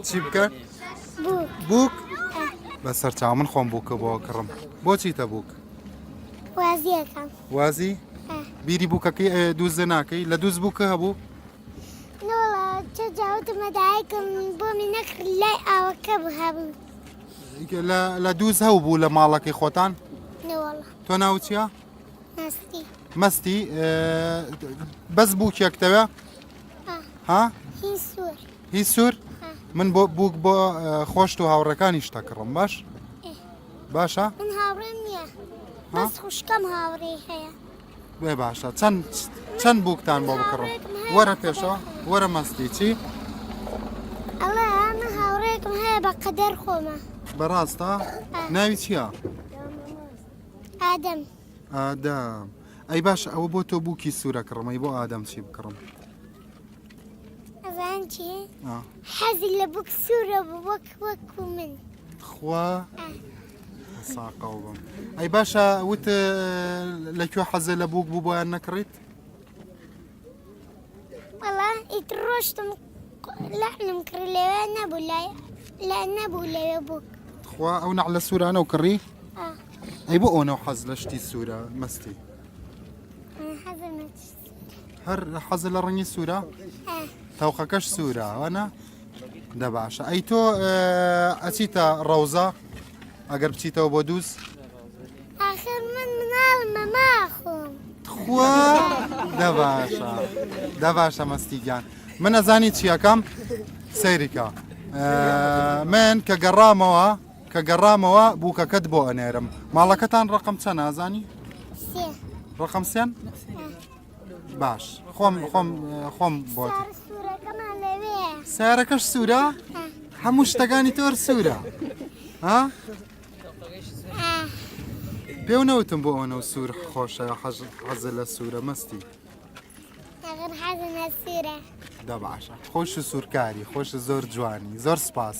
چی بکە بووک بە سەرچاو من خۆم بووکە بۆ کڕم بۆچی تە بووک وازی بیری بووکەکەی دووزە ناکەی لە دووز بووکە هەبوو جاوتمەدایکم بۆ من نەخ لای ئاوەکە بهبوو لە دووز هەو بوو لە ماڵەکەی خۆتان تۆ ناوچە؟ مەستی بەس بووکێک دەوێ ها هی سوور من بۆ بووک بۆ خۆش و هاوڕەکانی شتە کڕم باش باشە خوشکەم هاوڕێ هەیە بێ باشە چەند چەند بووکتان بۆ بکڕم وەرە پێشەوە وەرە مەستی چی؟ ئەڵێ ئەمە هاوڕێکم هەیە بە قەدەر خۆمە بەڕاستە ناوی چییە؟ ئادەم ئادەم ئەی باش ئەوە بۆ تۆ بووکی سوورە کڕمەی بۆ ئادەم چی بکڕم ئەزان چی حەزی لە بووک سوورە وەک وەک و من خوا ساقاو بم ئەی باشە وت لە کوێ حەزە لە بووک بوو بۆیان نەکڕیت وەڵا ئیت ڕۆشتم لەحنم کڕی لەوێ نەبوو لای لە نەبوو لەوێ بوو خوا ئەو نەع لە سوورانە و کڕی ئەی بۆ ئەوەنەو حەز لە شتی سوورە مەستی هەر حەزە لە ڕەنگی سوورە تاوقەکەش سوورە ئەوانە دە باشە ئەی تۆ ئەچیتە ڕەوزە ئەگەر بچیتەوە بۆ دووس آخر من مناڵ مەما خۆم تخوا دە باشە دە باشە مەستیگیان من ئەزانی چیەکەم سەیریکە من کە گەڕامەوە کە گەڕامەوە بووکەکەت بۆ ئەنێرم ماڵەکەتان ڕقم چە نازانی ڕقم سێن باش خۆم خۆم خۆم بۆ سارەکەش سوورە هەموو شتەکانی تۆر سوورە ها پێو نەوتم بۆ ئەوەنە سوور خۆشە حەز حەزە لە سوورە مەستی دەباشە خۆش و سوورکاری خۆش زۆر جوانی زۆر سپاس.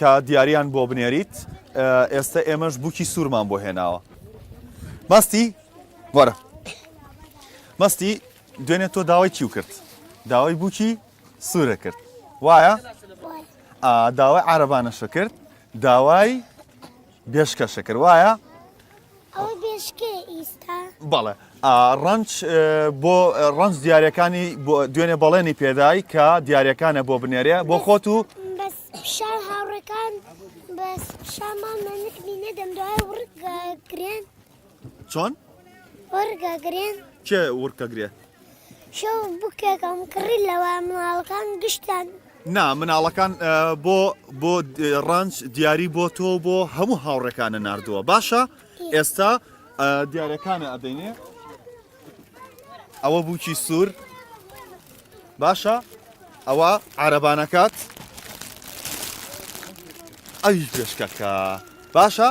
کە دیاریان بۆ بنێریت ئێستا ئێمەش بووکی سوورمان بۆ هێناوە مەستی وەرە مەستی دوێنێ تۆ داوای چی و کرد داوای بووکی سوورە کرد وایە داوای عربانەشە کرد داوای بێشکەشە کرد وایە بەڵێ ڕەنج بۆ ڕەنج دیارەکانی دوێنێ بەڵێنی پێدای کە دیارەکانە بۆ بنێرێ بۆ خۆت و شا هاوڕێکان بەس شا مامە نکمی نەدەم دوای وڕگا گرێن چۆن؟ وەرگا گرێن کێ وڕکە گرێ؟ شە بکێکم کڕی لەوە مناڵەکان گشتان نا مناڵەکان بۆ بۆ ڕنج دیاری بۆ تۆ بۆ هەموو هاوڕێکانە نردووە باشە ئێستا دیارەکانە ئەدەینێ ئەوە بووکی سوور باشە ئەوە عربانەکات ئەوی پێشکەکە باشە